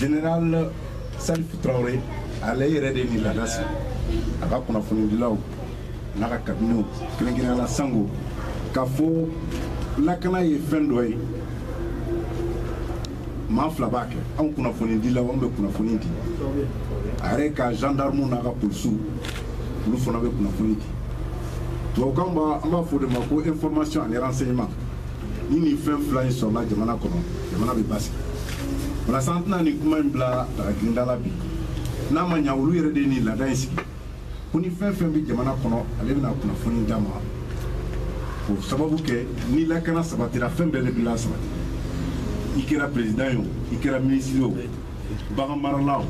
Général Salif Traoré ale yɛrɛ de nin laada sigi a ka kunnafonidilaw n'a ka kabinɛw kɛrɛnkɛrɛnnenya la sango k'a fɔ lakana ye fɛn dɔ ye maa fila b'a kɛ anw kunnafonidilaw anw bɛ kunnafoni di a yɛrɛ ka gendarme n'a ka polisiw olu fana bɛ kunnafoni di tubabukan na an b'a fɔ o de ma ko information ani renseignement ni nin fɛn fila in sɔrɔla jamana kɔnɔ jamana bɛ basigi walasa an tɛna nin kuma in bila dagagirinda la bi n'a ma ɲa olu yɛrɛ de ye nin laada in sigi ko ni fɛn fɛn bɛ jamana kɔnɔ ale bɛna kunnafoni d'an ma k'o sababu kɛ ni lakana sabatira fɛn bɛɛ de bɛ lasabati i kɛra perezidan ye o i kɛra minisiri o baganmarala o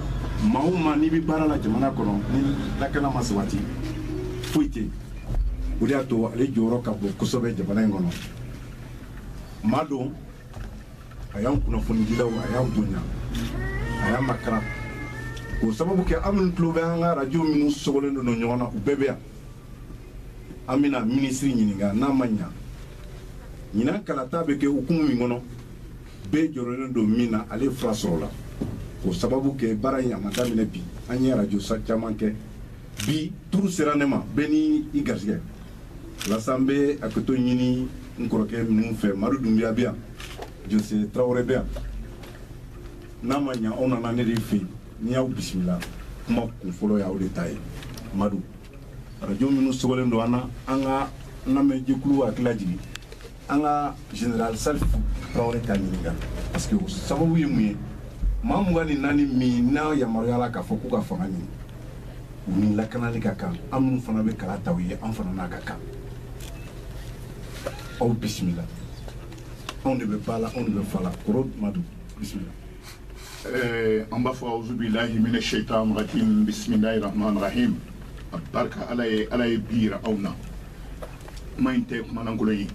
maa o maa n'i bɛ baara la jamana kɔnɔ ni lakana ma sabati foyi tɛ yen o de y'a to ale jɔyɔrɔ ka bon kosɛbɛ jamana in kɔnɔ maa don a y'an kunnafonidilaw a y'an bonya a y'an makaran k'o sababu kɛ an minnu tulo bɛ an ka arajo minnu sogolen don ɲɔgɔn na u bɛɛ bɛ yan an bɛna minisiri ɲininka n'a ma ɲa ɲinan kalata bɛ kɛ hukumu min kɔnɔ bɛɛ jɔrɔlen don min na ale fura sɔrɔla k'o sababu kɛ baara in a ma daminɛ bi an ye arajoso caman kɛ bi turu sera ne ma bɛɛ ni i garisɛgɛ walasa n bɛ hakɛto ɲini n kɔrɔkɛ ninnu fɛ madu dunbiya bɛ yan jose tarawele bɛ yan n'a ma ɲa aw nana ne de fɛ yen ne y'aw bisimila kuma kun fɔlɔ y'aw de ta ye madu arajo minnu sogolen don an na an ka lamɛnjɛkulu hakili lajigin an ka general salif tarawele k'a ɲininka parce que o sababu ye mun ye maa mugan ni naani minnu yamaruyala k'a fɔ k'u ka fanga ɲini u ni lakanali ka kan an minnu fana bɛ kala ta u ye an fana n'a ka kan aw bisimila anw de bɛ ba la anw de bɛ fa la kɔrɔ madu bisimila Eh, an b'a fɔ awuzubilahi mina shaitan rajim bisimilahi rahman rahim a barika ala ye ala ye bi yira anw na kuma in tɛ kuma lankolon ye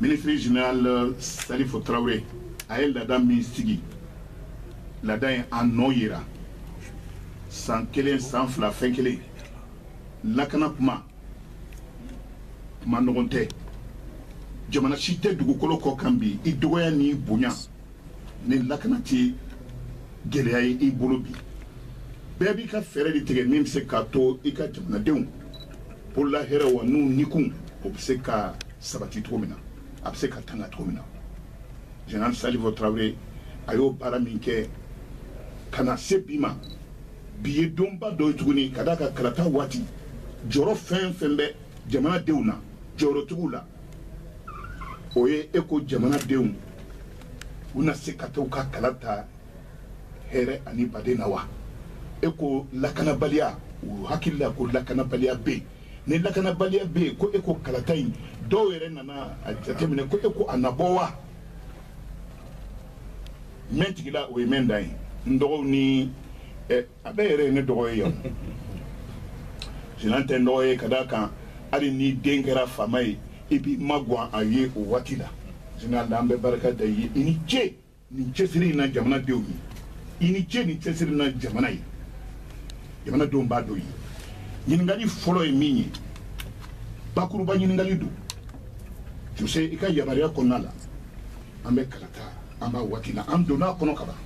minisiri general euh, salifu tarawele a ye laada min sigi laada in a nɔ yera san kelen san fila fɛn kelen lakana kuma kuma nɔgɔn tɛ jamana si tɛ dugukolo kɔ kan bi i dɔgɔya n'i bonya ni lakana tɛ gɛlɛya ye i bolo bi bɛɛ b'i ka fɛɛrɛ de tigɛ min bɛ se k'a to i ka jamanadenw bolola hɛrɛ wa n'u nikun o bɛ se ka sabati cogo min na a bɛ se ka tanga cogo min na general salifu tarawele a y'o baara min kɛ ka na se bi ma bi ye donba dɔ ye tuguni ka d'a kan kalata waati jɔrɔ fɛn fɛn bɛ jamanadenw na jɔyɔrɔtigiw la o ye e ko jamanadenw u na se ka taa ka kala ta hɛrɛ ani baden na wa e ko lakanabaliya u hakili la ko lakanabaliya bɛ ni lakanabaliya bɛ yen ko e ko kalata in dɔw yɛrɛ nana a jateminɛ ko e ko a na bɔ wa mɛ tigila o ye mɛ da ye n dɔgɔw ni a bɛɛ yɛrɛ ye ne dɔgɔ ye yan général tɛ dɔgɔ ye ka d'a kan hali n'i den kɛra faama ye i b'i magan a ye o waati la général an bɛ barika d'i ye i ni ce nin cɛsiri in na jamana denw ye i ni ce nin cɛsiri na jamana ye jamana denw b'a dɔn ye ɲininkali fɔlɔ ye min ye bakuruba ɲininkali don jose i ka yamaruya kɔnɔna la an bɛ kalata an b'a waati la an donn'a kɔnɔ kaban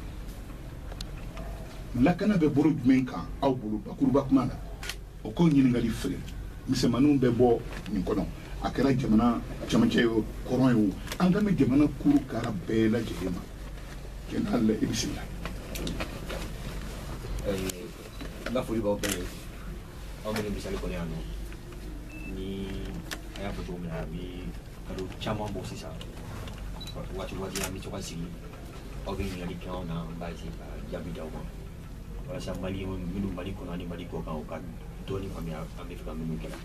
lakana bɛ bolo jumɛn kan aw bolo bakuruba kuma la o kɔ ɲininkali wɛrɛ misɛnmaninw bɛ bɔ nin kɔnɔ a kɛra jamana cɛmancɛ ye kɔrɔn ye o an kan bɛ jamana kuru kara bɛɛ lajɛlen ma général i bisimila n ka foli b'aw bɛɛ ye aw minnu bɛ salle kɔnɔ yan nɔ ni a y'a fɔ cogo min na a bɛ kalo caman bɔ sisan waati waati an bɛ to ka sigi aw bɛ ɲininkali kɛ anw na an b'a essayer ka jaabi d'aw ma walasa malien minnu mali kɔnɔ ani mali kɔ kan u ka dɔɔni faamuya an bɛ fɛ ka minnu kɛ la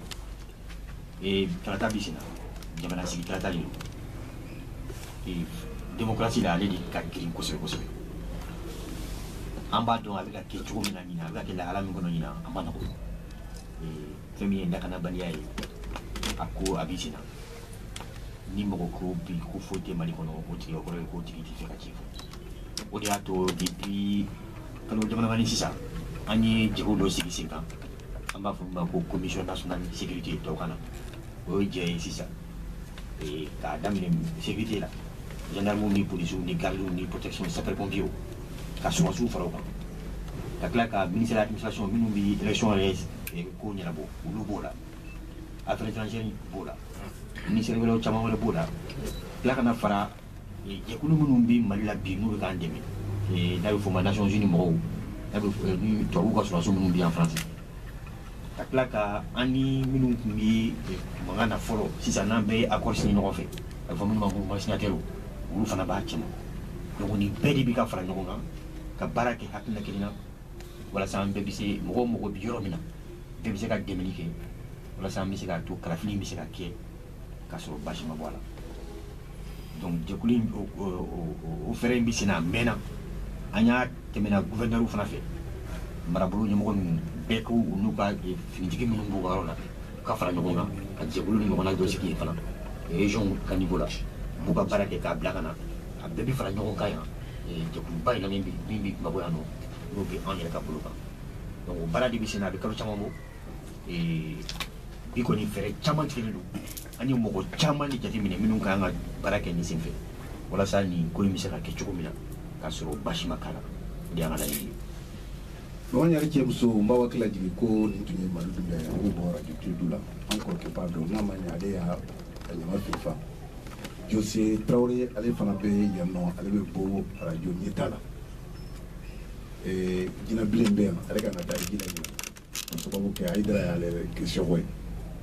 ee kalata bɛ senna jamanatigi kalata de don ee démocratie la ale de ka girin kosɛbɛ kosɛbɛ an b'a dɔn a bɛ ka kɛ cogo min na ɲina a bɛ ka kɛ lahala min kɔnɔ ɲina a ma nɔgɔ ee fɛn min ye lakanabaliya ye a ko a bɛ senna ni mɔgɔ ko bi ko foyi tɛ mali kɔnɔ o tigi kɔrɔ ye k'o tigi t'a fɛ ka tiɲɛ fɔ o de y'a to depuis kalo damadama ni sisan an ye jɛkulu dɔ sigi sen kan an b'a fɔ min ma ko commission nationale de sécurité tubabukan na o ye jɛ ye sisan eh, k'a daminɛ sécurité la gendarmew ni polisiw ni gardiw ni protection sapeur pompiers ka sɔrɔdasiw fara o kan ka tila ka ministère administration minnu bɛ élection yɛrɛ eh, ko ɲɛnabɔ olu b'o la affaires étrangères b'o la minisɛri wɛrɛw caman wɛrɛ b'o la tila ka na fara jɛkulu minnu bɛ mali la bi n'u bɛ k'an dɛmɛ n'a bɛ fɔ ma nations unis mɔgɔw n'a bɛ ni tubabuw ka sɔrɔdasiw minnu bɛ yan faransi ka tila ka an ni minnu tun bɛ mankan na fɔlɔ sisan n'an bɛɛ ye accord signé ɲɔgɔn fɛ a bɛ fɔ minnu ma ko cosignataires olu fana b'a cɛma donc nin bɛɛ de bɛ ka fara ɲɔgɔn kan ka baara kɛ hakilina kelen na walasa an bɛɛ bɛ se mɔgɔ mɔgɔ bɛ yɔrɔ min na bɛɛ bɛ se ka dɛmɛli kɛ walasa an bɛ se k'a to kalafili bɛ se ka kɛ k'a sɔrɔ baasi ma bɔ a la donc jɛkulu in o fɛɛrɛ in bɛ sen na a mɛnna an tɛmɛna guvɛrinɛriw fana fɛ marabolo ɲɛmɔgɔ ninnu bɛɛ ko u n'u ka finitigi minnu b'u ka yɔrɔ la ka fara ɲɔgɔn kan ka jɛkulu nin ɲɔgɔnna dɔ sigi yen fana région ka niveau la u b'u ka baara kɛ k'a bila ka na a bɛɛ bɛ fara ɲɔgɔn kan yan jɛkuluba in na min bɛ Bamakɔ yan nɔ n'o bɛ anw yɛrɛ ka bolo kan donc o baara de bɛ sen na a bɛ kalo caman bɔ bi kɔni fɛɛrɛ caman tigɛlen don an ye mɔgɔ caman de jateminɛ minnu ka kan ka baara kɛ nin sen fɛ walasa nin ko in bɛ se ka kɛ cogo min na k'a sɔrɔ baasi ma k'a la o de y'an ka laɲini ye. Ɲɔgɔn yɛrɛ cɛ muso n b'aw hakili lajigin ko nin tun ye Mali dun dɛ o bɔra Duturu du la an kɔrɔkɛba dɔ n'a ma ɲɛ ale y'a ɲama filifa Jose tarawele ale fana bɛ yan nɔ ale bɛ bɔ arajo ɲɛtaa la jinɛbilen bɛ yan ale ka taa jinɛ sababu kɛ Ayidara ale geseko ye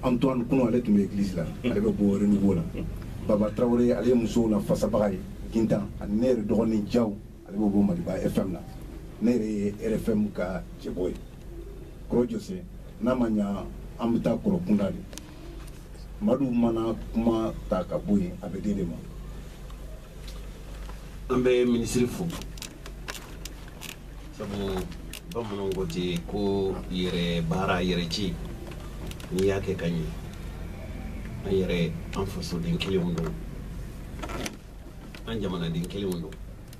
Antoine Kɔnɛ ale tun bɛ egilisi la ale bɛ bɔ Renouveau la baba tarawele ale ye musow na fasabaga ye gintan ani ne yɛrɛ dɔgɔnin Jawu ale bɛ bɔ maliba FM na ne yɛrɛ ye RFM ka cɛbɔ ye kɔrɔ jɔse n'a ma ɲɛ an bɛ taa kɔrɔ kunda de madu mana kuma ta ka bɔ yen a bɛ di de ma an bɛ minisiri fo sabu bamananw ko ten ko yɛrɛ baara yɛrɛ ci n'i y'a kɛ ka ɲɛ an yɛrɛ an fasoden kelenw don an jamanaden kelenw don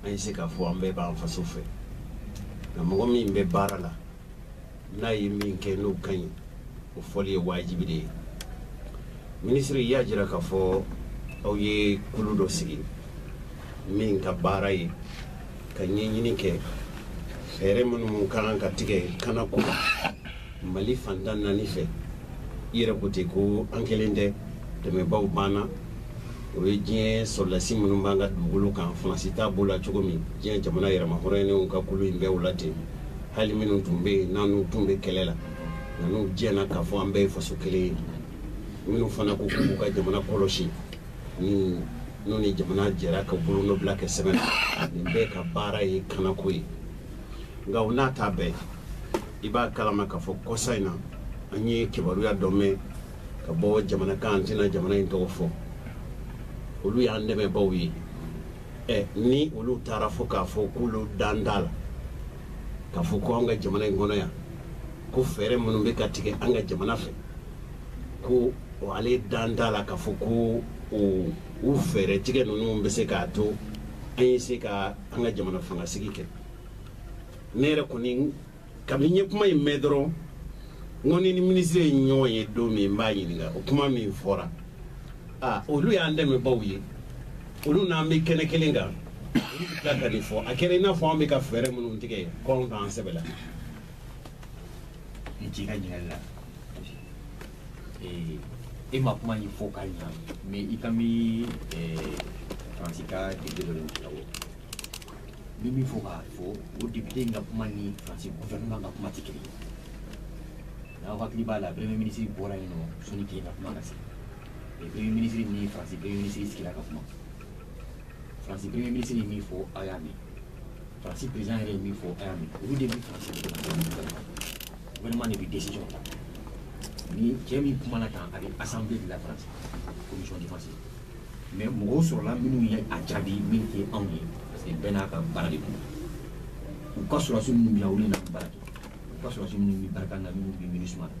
an bɛ se k'a fɔ an bɛɛ b'an faso fɛ nka mɔgɔ min bɛ baara la n'a ye min kɛ n'o ka ɲi o fɔli ye wajibi de ye minisiri y'a jira k'a fɔ aw ye kulu dɔ sigi min ka baara ye ka ɲɛɲini kɛ fɛɛrɛ minnu ka kan ka tigɛ kanako la mali fan tan ni naani fɛ i yɛrɛ ko ten ko an kelen tɛ dɛmɛbaaw b'an na o ye diɲɛ sɔrɔdasi minnu b'an ka dugukolo kan faransi ta b'o la cogo min diɲɛ jamana yɛrɛmahɔrɔnyalenw ka kulu in bɛ o la ten hali minnu tun bɛ yen n'an n'u tun bɛ kɛlɛ la nka n'u diɲɛna k'a fɔ an bɛɛ ye faso kelen ye minnu fana ko k'u ka jamana kɔlɔsi ni n'u ni jamana jɛra ka bolonɔbila kɛ sɛbɛn na nin bɛɛ ka baara ye kanako ye nka o n'a ta bɛɛ i b'a kalama k'a fɔ kɔsa in na an ye kibaruya dɔ mɛn ka bɔ jamana kan an tɛna jamana in tɔgɔ fɔ olu y'an dɛmɛbaaw ye ni olu taara fo k'a fɔ k'olu dan t'a la k'a fɔ ko an ka jamana in kɔnɔ yan ko fɛɛrɛ minnu bɛ ka tigɛ an ka jamana fɛ ko ale dan t'a la k'a fɔ ko u fɛɛrɛ tigɛ ninnu bɛ se k'a to an ye se ka an ka jamana fangasigi kɛ ne yɛrɛ kɔni kabini n ye kuma in mɛn dɔrɔn n ko ni n ni minisiri ye ɲɔgɔn ye don min n b'a ɲininka o kuma min fɔra a olu y'an dɛmɛbaw ye olu n'an bɛ kɛnɛ kelen kan olu bɛ tila ka nin fɔ a kɛra i n'a fɔ an bɛ ka fɛɛrɛ minnu tigɛ ko anw t'an sɛbɛ la i ci ka ɲininkali la e ma kuma nin fɔ ka ɲa mais i kan bɛ faransi ka député dɔ de n bɛ min fɔ k'a fɔ o député in ka kuma ni faransi gouvernement ka kuma tɛ kelen ye n'aw hakili b'a la premier ministre bɔra yen nɔ sɔnni tile ka kuma ka se mais premier ministre ni faransi premier ministre sigira ka kuma faransi premier ministre ye min fɔ aw y'a mɛn faransi président yɛrɛ ye min fɔ aw y'a mɛn olu de bɛ faransi gouvernement de bɛ décision ta ni cɛ min kumana tan a bɛ assemblée de la faransi commission défense mais mɔgɔw sɔrɔla minnu ye a jaabi min tɛ anw ye parce que bɛɛ n'a ka baara de don u ka sɔrɔdasi minnu bɛ olu na baara kɛ u ka sɔrɔdasi minnu bɛ barkhane na minnu bɛ minusma na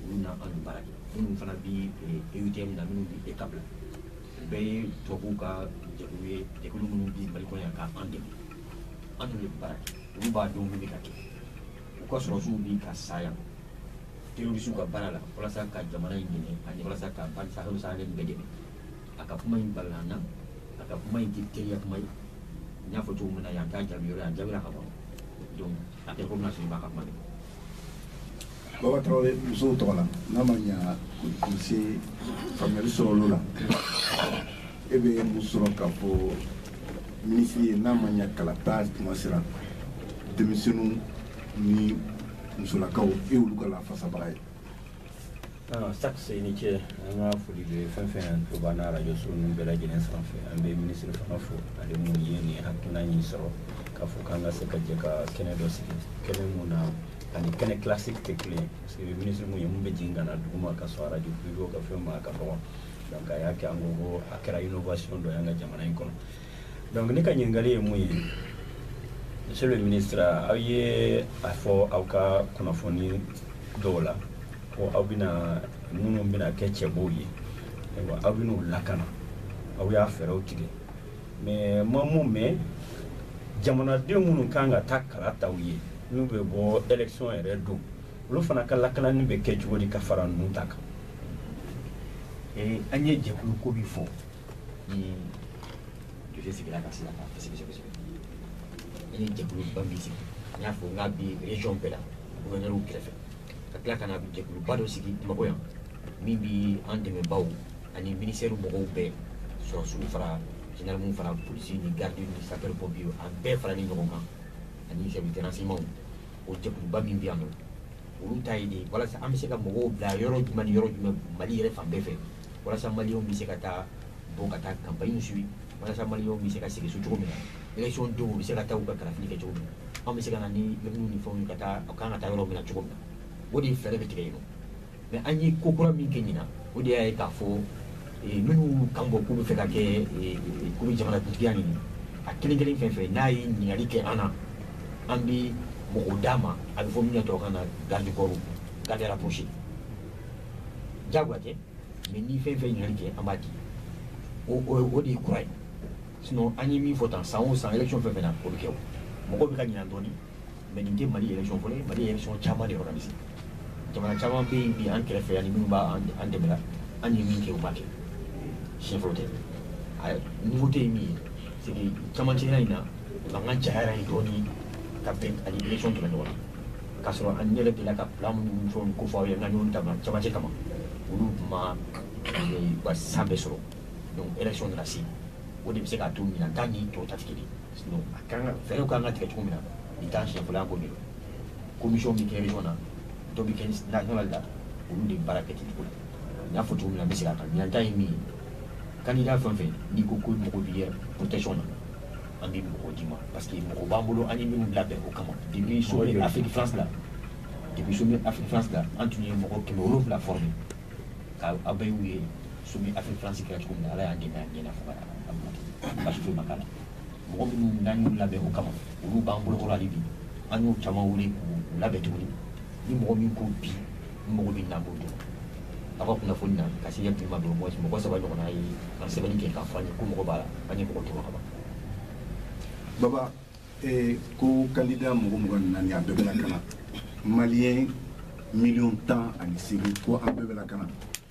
olu ni anw baara kɛ minnu fana bɛ eutm na minnu bɛ eucap la u bɛɛ ye tubabuw ka jɛkulu ye jɛkulu minnu bɛ mali kɔnɔ yan ka an dɛmɛ an dun bɛ baara kɛ olu b'a dɔn min bɛ ka kɛ u ka sɔrɔdasiw bɛ ka sa yan terroriste ka baara la walasa ka jamana in dɛmɛ ani walasa ka bande sahélo-saharienne bɛɛ dɛmɛ a ka kuma in balala an na a ka kuma in tɛ teriya kuma ye n y'a fɔ cogo min na yan t'a jaabi yɔrɔ ye a jaabira ka ban donc a tɛ komi na sɔrɔ i b'a ka kuma de baba tarawele musow tɔgɔ la n'a ma ɲa k'u se faamuyali sɔrɔ olu la e bɛ mun sɔrɔ k'a fɔ minisiri ye n'a ma ɲa kalata tuma sera denmisɛnninw ni musolakaw e olu ka lafasabaga ye sac se ni ce an ka foli bɛ fɛn o fɛn tulo b'an na arajoso ninnu bɛɛ lajɛlen sanfɛ an bɛ minisiri fana fo ale mun ye nin hakilina in sɔrɔ k'a fɔ k'an ka se ka jɛ ka kɛnɛ dɔ sigi kɛnɛ mun n'a ni kɛnɛ classique tɛ kelen ye parce que minisiri mun ye mun bɛ jigin ka na duguma ka sɔn arajo privew ka fɛn ma a ka dɔgɔ donc a y'a kɛ an ko ko a kɛra innovation dɔ ye an ka jamana in kɔnɔ donc ne ka ɲininkali ye mun ye monsieur le ministre aw ye a fɔ aw ka kunnafoni dɔw la ko aw bɛna minnu bɛna kɛ cɛbɔw ye ayiwa aw bɛna u lakana aw y'a fɛɛrɛw tigɛ mais n ma mun mɛn jamanaden minnu kan ka taa kala ta u ye n'u bɛ bɔ élection yɛrɛ don olu fana ka lakanani bɛ kɛ cogo di ka fara ninnu ta kan an ye jɛkulu ko bi fɔ joli sigira ka sira kan kosɛbɛ kosɛbɛ an ye jɛkuluba min sigi n y'a fɔ n k'a bi région bɛɛ la gouvernɛriw kɛrɛfɛ ka tila ka na jɛkuluba dɔ sigi bamakɔ yan min bi an dɛmɛbaaw ani minisitɛriw mɔgɔw bɛɛ sɔrɔdasiw fara zandaramu fara polisi ni garidi ni sapɛri pɔmpiye a bɛɛ faralen ɲɔgɔn kan ani service renseignementw o jɛkuluba min bɛ yan nɔ olu ta ye de walasa an bɛ se ka mɔgɔw bila yɔrɔ jumɛn ni yɔrɔ jumɛn mali yɛrɛ fan bɛɛ fɛ walasa maliyɛnw bɛ se ka taa bɔ ka taa kanpaɲi suivi walasa maliyɛnw bɛ se ka sigi so cogo min na election don u bɛ se ka taa u ka kalafili kɛ cogo min na anw bɛ se ka na ni lɛminiw ni fɛnw ka taa u kan ka taa yɔrɔ min na cogo min na o de ye fɛɛrɛ bɛ tigɛ yen nɔ mɛ an ye ko kura min kɛ ɲinan o de y'a ye k'a fɔ minnu kan bɔ k'u bɛ fɛ ka kɛ k'u bɛ jamanakuntigiya ɲini a kelen kelen fɛn fɛn n'a ye ɲininkali kɛ an na an bɛ mɔgɔw d'a ma a bɛ fɔ min na tubabukan na garde corps garde rapprochée jagoya tɛ mɛ ni fɛn fɛn ɲali kɛ an b'a di o de ye kura ye sinon an ye min fɔ tan san o san élection fɛn fɛn na o bɛ kɛ o mɔgɔw bɛ ka ɲinɛ dɔɔni mɛ nin tɛ mali élection fɔlɔ ye mali ye élection caman de organiser jamana caman bɛ yen bi an kɛrɛfɛ yan ni minnu b'a an dɛmɛ la an ye min kɛ u ma kɛ siɲɛ fɔlɔ tɛ nouveauté ye min ye c'est que camancɛya in na mankan cayara yen dɔɔni ka bɛn ani élection tɛmɛ ɲɔgɔn na k'a sɔrɔ an yɛrɛ delila ka plan minnu fɛnw ko fɔ aw ye n ka ɲɔgɔn dama camancɛ kama olu tun ma u ka san bɛɛ sɔrɔ donc élection nana se o de bɛ se k'a to ɲinan ta ni tɔw ta tɛ kelen sinon a ka kan ka fɛɛrɛw ka kan ka tigɛ cogo min na nin t'an siɲɛ fɔlɔ y'an ko de don commission bɛ kɛ région na dɔ bɛ kɛ national la olu de baara kɛ ten cogo la n y'a fɔ cogo min na n bɛ segin a kan ɲinan ta ye min ye candidat fɛn o fɛn n'i ko k'i mago b'i yɛrɛ protection na an bɛ mɔgɔ di ma parce que mɔgɔ b'an bolo an ye minnu labɛn o kama depuis sommet Afrique France la depuis sommet Afrique France la an tun ye mɔgɔ kɛmɛ wolonwula former ka aw bɛɛ y'a ye sommet Afrique France kɛra cogo min na Ala y'an dɛmɛ a ɲɛna fo ka a bila baasi foyi ma k'a la mɔgɔ minnu n'an y'u labɛn o kama olu b'an bolokɔrɔ hali bi an y'u caman wele k'u labɛn tuguni ni mɔgɔ min ko bi mɔgɔ di n ma an b'o di aw ka kunnafoni na ka se bi ma mɔgɔ mɔgɔ saba ɲɔgɔnna ye sɛbɛnni kɛ k'a fɔ an ye k'u mago b'a la an ye mɔgɔ tugu kaban baba eh, ko kandida mɔgɔ mugan ni naani a bɛɛ bɛ lakana maliyɛn miliyɔn tan ani seegin ko a bɛɛ bɛ lakana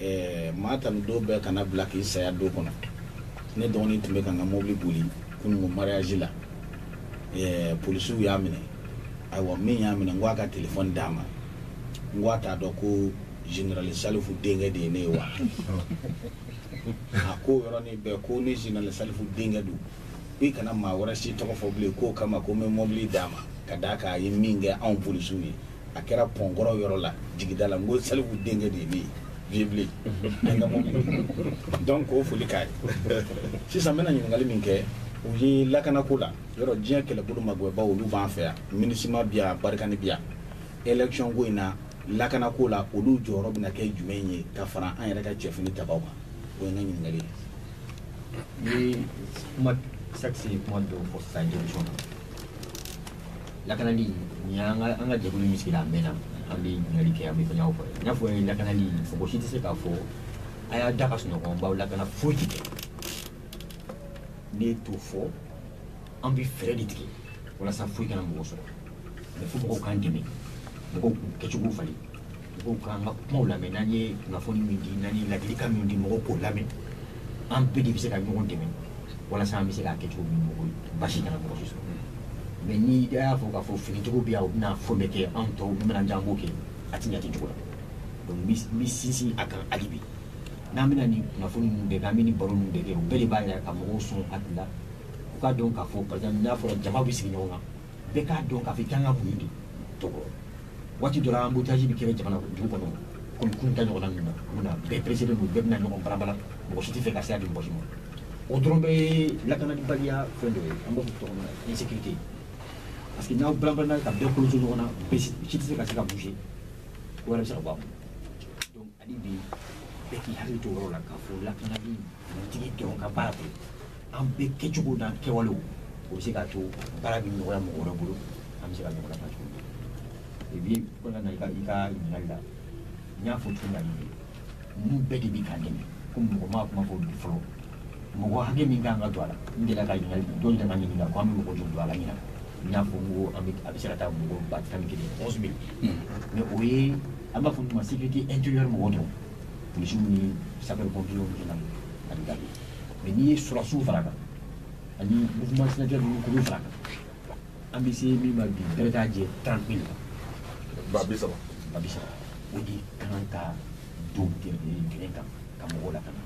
ɛɛ maa tan ni don bɛɛ kana bila k'i saya don kɔnɔ ne dɔgɔnin tun bɛ ka n ka mobili boli kununko mariyaji la ɛɛ polisiw y'a minɛ ayiwa min y'a minɛ n ko a ka telefɔni d'a ma n ko a t'a dɔn ko generali salifu denkɛ de ye ne ye wa a ko yɔrɔnin bɛɛ ko ni generali salifu denkɛ don ko i kana maa wɛrɛ si tɔgɔ fɔ bilen k'o kama ko n bɛ mobili d'a ma ka d'a kan a ye min kɛ anw polisiw ye a kɛra pɔnkɔrɔ yɔrɔ la jigida la n ko salifu denkɛ de ye ne ye vieux ble an ka mɔbili donc k'o foli k'a ye sisan n bɛna ɲininkali min kɛ o ye lakanako la yɔrɔ diɲɛ kɛlɛbolo magwɛnbaw olu b'an fɛ yan minisima bi yan barikani bi yan élection ko in na lakanako la olu jɔyɔrɔ bɛna kɛ jumɛn ye ka fara an yɛrɛ ka cɛfini tabaw kan o ye n ka ɲininkali ye ni kuma sakisi ye kuma dɔw fɔ sisan jɔnjɔn na lakanali nin y'an ka an ka jɛkulu min sigira a mɛnna an bɛ ɲininkali kɛ an bɛ fɛnyaw fɔ i n'a fɔ lakanali mɔgɔ si tɛ se k'a fɔ a y'a da ka sunɔgɔ an b'aw lakana foyi tɛ kɛ ne t'o fɔ an bɛ fɛɛrɛ de tigɛ walasa foyi kana mɔgɔ sɔrɔ mais fo mɔgɔw k'an dɛmɛ mɔgɔw k'u kɛcogo falen Mɔgɔw ka an ka kumaw lamɛn n'an ye kunnafoni min di n'an ye ladilikan min di mɔgɔw k'o lamɛn an bɛɛ de bɛ se ka ɲɔgɔn dɛmɛ walasa an bɛ se k'a kɛ cogo min mɔgɔ basi kana mɔgɔ si sɔrɔ mais n'i y'a fɔ k'a fɔ finitigiw bɛ yan u bɛna fɛn bɛɛ kɛ an tɔw bɛna jan b'o kɛ a tɛ ɲɛ ten cogo la donc n bɛ sinsin a kan hali bi n'an bɛna nin kunnafoni ninnu bɛɛ kɛ an bɛ nin baro ninnu bɛɛ kɛ o bɛɛ de b'a yɛrɛ ka mɔgɔw sɔn hakili la u k'a dɔn k'a fɔ par exemple n'a fɔra jama bɛ sigi ɲɔgɔn kan bɛɛ k'a dɔn k'a fɔ i kan ka mun de tɔgɔ waati dɔ la embouteillage bɛ kɛra jamana dugu kɔnɔ komi kun ta ɲɔgɔnna ninnu na mun na bɛɛ pressé don bɛɛ bɛna ɲɔgɔn balabala mɔgɔ si t'a fɛ ka sira di mɔgɔ si ma o dɔrɔn bɛ lakanabaliya fɛn dɔ ye an b'a fɔ tɔgɔ min na insécurité parce que n'aw balabalana ka bɛɛ kɔlɔkɔ ɲɔgɔn na bɛɛ si tɛ se ka se ka bouger ko wɛrɛ bɛ se ka bɔ a kɔnɔ Hali bi bɛɛ k'i hakili to yɔrɔ la k'a fɔ lakanali finitigi dɔrɔn ka baara tɛ an bɛɛ kɛcogo n'an kɛwalew o bɛ se k'a to baara bɛ nɔgɔya mɔgɔ wɛrɛ bolo an bɛ se ka ɲɔgɔn nafa cogo min et puis kɔnɔna na i ka i ka ɲininkali la n y'a fɔ cogo min na ninnu bɛɛ de bɛ k'an dɛmɛ ko mɔgɔ ma kuma fɔ bi fɔlɔ mɔgɔ hakɛ min kan ka don a la n delila ka ɲininkali dɔ delila ka ɲininka ko an bɛ mɔgɔ joli don a la ɲinan n y'a fɔ n ko an bɛ a bɛ se ka taa mɔgɔ ba tan ni kelen onze mille mais o ye an b'a fɔ min ma sécurité intérieure mɔgɔ dɔrɔn polisiw ni sapeur pompiers ni fɛn ani garidi mais n'i ye sɔrɔsiw fara kan ani mouvement signataire ninnu k'olu fara kan an bɛ se min ma bi bɛɛ k'a jɛ 30 mille kan ba bi saba ba bi saba o de ka kan ka don gɛrɛgɛrɛ kan ka mɔgɔw lakana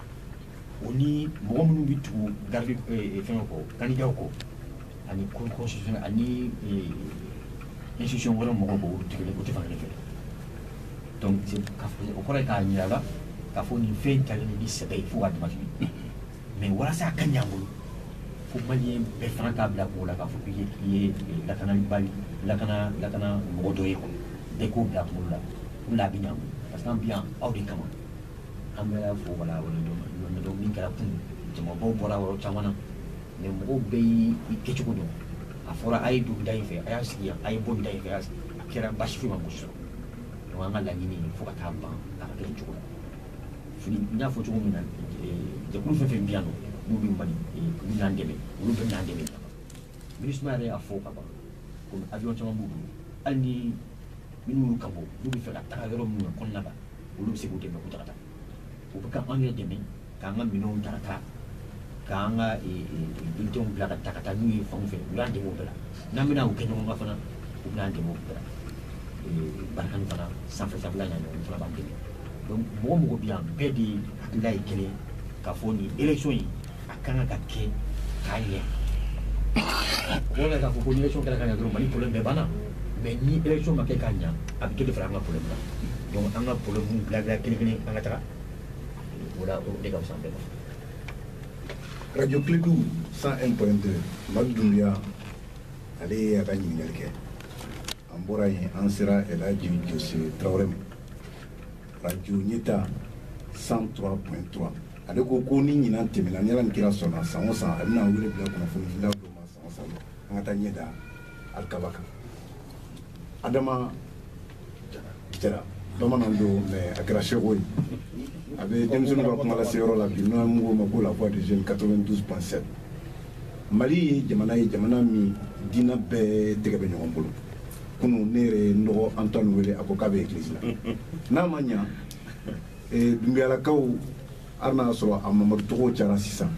o ni mɔgɔ minnu bɛ tugu garidi fɛngɛ kɔ kandidaw kɔ ani kɔsɔn ani institution wɛrɛ mɔgɔ b o tɛ fan fɛ o kɔrɔ k'a jirala k'a fɔ nin fɛn ta ni sɛbɛ ye fo ka dama mais walasa ka ɲa an bolo fo mali bɛɛ fana k'a bila k'o la k'a fɔ ye ye lakana lakana lakana mɔgɔ dɔ ye kɔnɔ bɛɛ k'o bila k'o la o la a bɛ ɲa parce que an bi yan aw de kama an bɛ fo wala wala min kɛra kunun jamabaw bɔra yɔrɔ caman na mais mɔgɔw bɛ y i kɛcogo dɔn a fɔra a ye don da in fɛ a y'a sigi a ye bɔ da in fɛ a kɛra basisu ma gosi dɔn an ka laɲini fo ka taa ban a ka kɛ cogo fini n y'a fɔ cogo min na jɛkulu fɛn fɛn bɛ yan n'u bɛ mali olu y'an dɛmɛ olu bɛn'an dɛmɛ minusma yɛrɛ y'a fɔ ka ban ko avion caman b'u bolo hali ni minnu y'u ka bɔ n'u bɛ fɛ ka taga yɔrɔ minnu na kɔnɔna la olu bɛ se k'u dɛmɛ k'u ta ka taa u bɛ ka anw yɛrɛ dɛmɛ k'an ka minɛnw ta ka taa k'an ka bulletinw bila ka taa ka taa n'u ye fanw fɛ u y'an dɛmɛ o bɛɛ la n'an bɛna u kɛ ɲɔgɔn kan fana u bɛna an dɛmɛ o bɛɛ la barkhane fana sanfɛ sanfɛla ɲanfan na b'an dɛmɛ donc mɔgɔ o mɔgɔ bɛ yan bɛɛ de hakilila ye kelen ye k'a fɔ nin élection in a ka kan ka kɛ ka ɲɛ o de k'a fɔ ko ni élection kɛra ka ɲɛ dɔrɔn mali problème bɛɛ banna mais ni élection ma kɛ ka ɲɛ a bɛ dɔ de fara an ka problème kan donc an ka problème dilan dilan kelen kelen an ka taga o la o de ka fisa an bɛɛ ma radio kledu 101.2 madu dunbiya ale ye a ka ɲininkali kɛ An bɔra yen an sera Elhaji Jose Tarawele ma radio ɲɛtaa 103.3 ale ko ko ni ɲinan tɛmɛna ni Ala ni kira sɔnna san o san a bɛna wele bila kunnafonidilaw dɔ ma san o san an ka taa ɲɛ da alikaba kan Adama Jara bamanan don mais a kɛra seko ye a bɛ denmisɛnninw ka kumalaseyɔrɔ la bi n'an k'o ma ko la voix des jeunes 92.7 Mali ye jamana ye jamana min diinɛ bɛɛ tɛgɛ bɛ ɲɔgɔn bolo kunun ne yɛrɛ ye n dɔgɔ antoine wele a ko k'a bɛ église la n'a ma ɲa eh, dunbiyalakaw hali n'a y'a sɔrɔ a mamadu tɔgɔw cayara sisan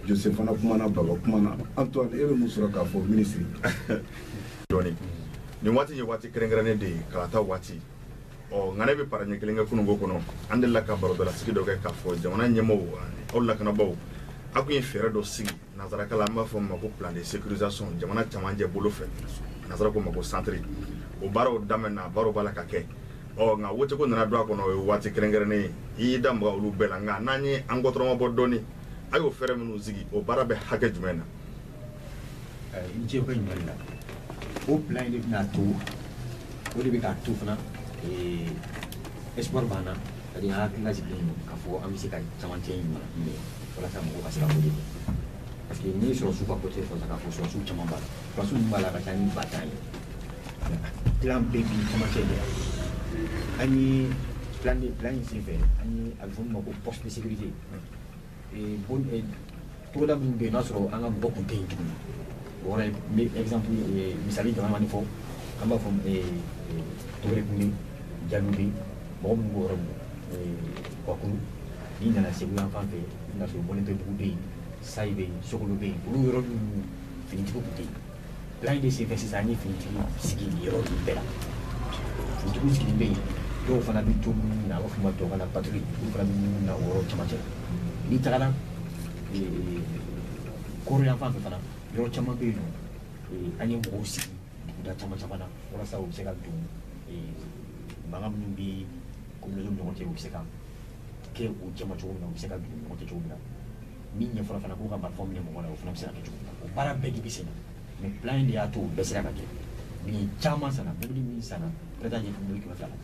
jose fana kumana baba kumana antoine e bɛ mun sɔrɔ k'a fɔ minisiri dɔɔni nin waati ye waati kɛrɛnkɛrɛnnen de ye kalata waati ɔ nka ne bɛ para ɲɛ kelen kɛ kununko kɔnɔ an delila ka barodɔlasigi dɔ kɛ k'a fɔ jamana ɲɛmɔgɔw ani aw lakanabaaw a tun ye fɛɛrɛ dɔ sigi nanzarakan na an b'a fɔ min ma ko plan de sécurisation jamana camancɛ bolo fɛ nanzara k'o ma ko centre o baaraw daminɛna baaraw b'a la ka kɛ ɔ nka woteko nana don a kɔnɔ o ye waati kɛrɛnkɛrɛnnen ye i y'i da maga olu bɛɛ la nka n'an ye an kɔtɔrɔmabɔ dɔɔni a y'o fɛɛrɛ minnu sigi o baara bɛ hakɛ jumɛn na i ni ce i ka ɲininkali la o plan in de bɛn'a to o de bɛ k'a to fana espoir b'an na c'est-à-dire an hakilila sigilen don k'a fɔ an bɛ se ka camancɛ in mara minɛ walasa mɔgɔw ka se ka wote parce que n'i ye sɔrɔdasiw ka côté fɔ k'a fɔ sɔrɔdasiw caman b'a la sɔrɔdasiw min b'a la ka ca ni ba tan ye plan bɛɛ bi camancɛ de la an ye plan de plan in senfɛ an ye a bɛ fɔ min ma ko poste de sécurité togoda minnu bɛ yen n'a sɔrɔ an ka mɔgɔ tun tɛ yen tuguni o yɔrɔ ye n bɛ exemple misali damadamanin fɔ an b'a fɔ togere kumbe jalube mɔgɔ minnu b'o yɔrɔ ninnu kuwakuru n'i nana segu yan fan fɛ i bɛn'a sɔrɔ mɔninpebugu bɛ yen sayi bɛ yen sokolo bɛ yen olu yɔrɔ ninnu finitigiw tun tɛ yen plan in de senfɛ sisan an ye finitigi sigi yɔrɔ ninnu bɛɛ la finitigiw sigilen bɛ yen dɔw fana bɛ to munumunu na an b'a fɔ a ma tubabukan na patrouille olu fana bɛ munumunu na o yɔrɔ cɛmancɛ n'i tagara koro yan fan fɛ fana yɔrɔ caman bɛ yen nɔ an ye mɔgɔw sigi duguda caman caman na walasa u bɛ se ka don mankan minnu bɛ communautéw ni ɲɔgɔn cɛ u bɛ se ka kɛ u cɛma cogo min na u bɛ se ka don u ni ɲɔgɔn cɛ cogo min na min ye fɔlɔ fana k'u ka marifaw minɛ mɔgɔ la o fana bɛ se ka kɛ cogo min na o baara bɛɛ de bɛ sen na mais plan in de y'a to o bɛɛ sera ka kɛ minɛn caman sanna mobili min sanna bɛ taa ɲɛ fo mobili kɛmɛ fila la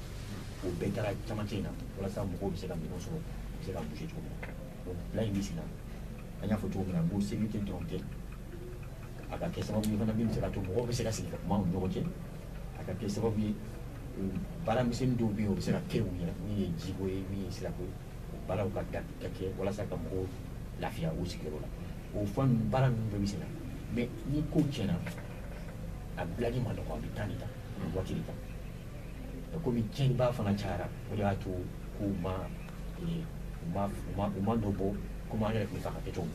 o bɛɛ taara cɛmancɛ in na walasa mɔgɔw bɛ se ka minɛn sɔrɔ u bɛ se ka bouger cogo min na donc plan in bɛ sen na an y'a fɔ cogo min na n ko sécurité dɔrɔn tɛ a ka kɛ sababu ye fana min bɛ se ka to mɔgɔw bɛ se ka sigi ka kuma u ni ɲɔgɔn cɛ a ka kɛ sababu ye baara misɛnnin dɔw bɛ yen o bɛ se ka kɛ u yɛrɛ min ye jiko ye min ye sirako ye baaraw ka kan ka kɛ walasa ka mɔgɔw lafiya u sigiyɔrɔ la o fɛn ninnu baara ninnu bɛɛ bɛ sen na mais ni ko tiɲɛna a dilanni man nɔgɔ a bɛ temps de ta a bɛ waati de ta komi tiɲɛnibaa fana cayara o de y'a to ko u ma u ma u ma u ma nɔ bɔ komi an yɛrɛ tun b'a fɛ k'a kɛ cogo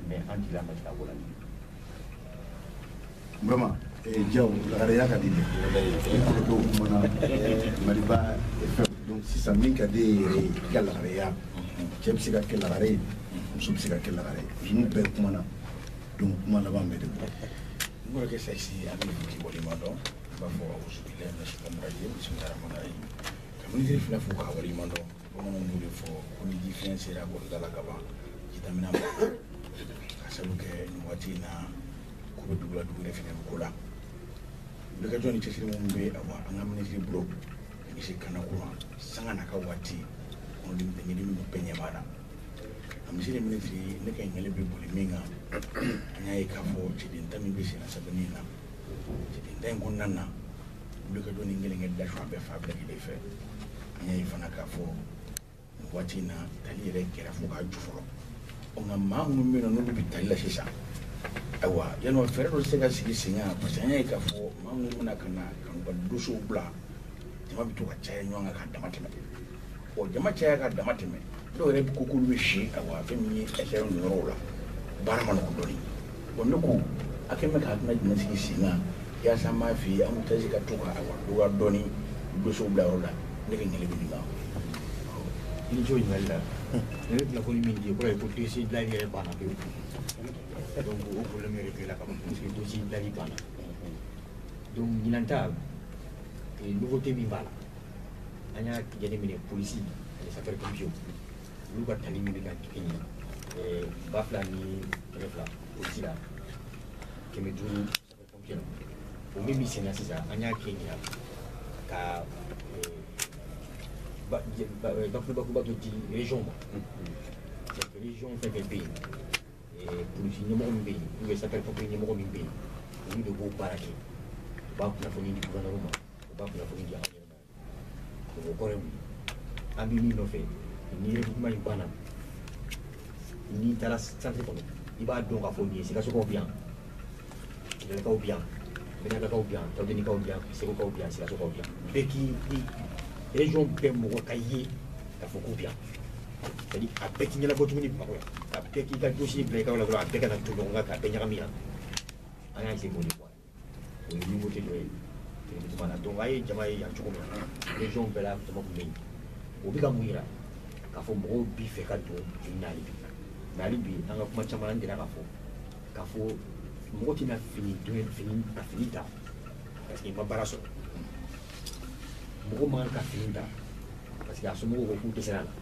min mais an jigila ma jigin a ko la vraiment eh, jaa lagareya ka di dɛ i kɔrɔ dɔw kumana eh, maliba fɛn donc sisan min ka di ye yɛrɛ ye i ka lagareya cɛ bɛ se ka kɛ lagare ye muso bɛ se ka kɛ lagare ye ninnu bɛɛ kumana donc kuma laban bɛ de bɔ n kɔrɔkɛ saisi a bɛ fiti bɔli ma dɔn i b'a fɔ awusubilayi mina sitani rajimi bisimilayi ramani rahimi ka minisiri fila fo k'u waleɲumandɔn bamananw b'o de fɔ ko ni ji fiɲɛ sera bulonda la ka ban ji damina ma ka sabu kɛ nin waati in na ko bɛ dugula dugu de fana ko la wulikajɔ ni cɛsiri minnu bɛ awa an ka minisiri bolo ka ɲɛsin lakanako ma sanga n'a ka waati kɔnɔ denmisɛnnin ninnu bɛɛ ɲɛ b'a la a misiri minisiri ne ka ɲininkali bɛ boli min kan an y'a ye k'a fɔ cɛden ta min bɛ senna sɛbɛnni in na cɛden ta in kɔnɔna na wulikajɔ ni gɛlɛnkɛ dasɔn a bɛɛ fa bɛɛ lajɛlen fɛ an y'a ye fana k'a fɔ waati in na tali yɛrɛ kɛra fo k'a ju fɔlɔ ɔ nka maa minnu bɛ yen nɔ n'olu bɛ tali la sisan ayiwa yala fɛɛrɛ dɔ se ka sigi sen kan parce que an y'a ye k'a fɔ maa minnu bɛna ka na ka n'u ka dossierw bila jama bɛ to ka caya ɲɔgɔn kan ka damatɛmɛ ɔ jama caya ka damatɛmɛ dɔw yɛrɛ ko k'olu bɛ si ayiwa fɛn min ye ɛsɛrɛ ninnu yɔrɔw la baara man nɔgɔn dɔɔnin Bon ne ko a kɛ bɛ ka kuma jumɛn sigi sen kan yaasa m'a f'i ye an bɛ tasi ka to ka a wa dɔɔni dosiw bila yɔrɔ la ne ka ɲɛli bɛ nin kan i ni ce o ɲininkali la ne bɛ kunnafoni min di kɔrɔ ye ko dosi dilan yɛrɛ banna pewu donc o problème yɛrɛ bɛ la ka ban parce que dosi dilanni banna donc ɲinan ta nouveauté min b'a la an y'a jateminɛ polisi ani sapeurs pompiers olu ka tali min bɛ ka kɛ ɲɛ ba fila ni kɛmɛ fila o ci la kɛmɛ duuru kɛmɛ o min bɛ senna sisan an y'a kɛ ɲinan ka bakurubakuruba dɔ di région ma région fɛn o fɛn bɛ yen polisi ɲɛmɔgɔ min bɛ yen ou bien sapeur pompier ɲɛmɔgɔ min bɛ yen olu de b'o baara kɛ u b'a kunnafoni di gouvernement ma u b'a kunnafoni di an yɛrɛ o kɔrɔ ye mun ye an bɛ min nɔfɛ ni recrutement in banna n'i taara centre kɔnɔ i b'a dɔn k'a fɔ nin ye sikasokaw bɛ yan kayikaw bɛ yan mɛnɛkakaw bɛ yan tɔdenikaw bɛ yan segukaw bɛ yan sikasokaw bɛ yan bɛɛ k'i i région bɛɛ mɔgɔ ka ye k'a fɔ k'u bɛ yan c'est à dire a bɛɛ tɛ ɲɛnabɔ tuguni bamakɔ yan ka bɛɛ k'i ka dosi bila i ka yɔrɔ la dɔrɔn a bɛɛ kana to ɲɔgɔn kan k'a bɛɛ ɲagami yan an y'a essayer k'o de bɔ o ye nouveauté dɔ ye télévision na donc a ye jama ye yan cogo min na région bɛɛ la jama tun bɛ yen o bɛ ka mun yira k'a fɔ mɔgɔw b'a fɛ ka don fini na hali bi mɛ hali bi an ka kuma caman an delila k'a fɔ k'a fɔ mɔgɔ tɛna fini don fini ka fini ta parce que i ma baara sɔrɔ mɔgɔ man kan ka fini ta parce que a somɔgɔw ko k'u dɛsɛra a la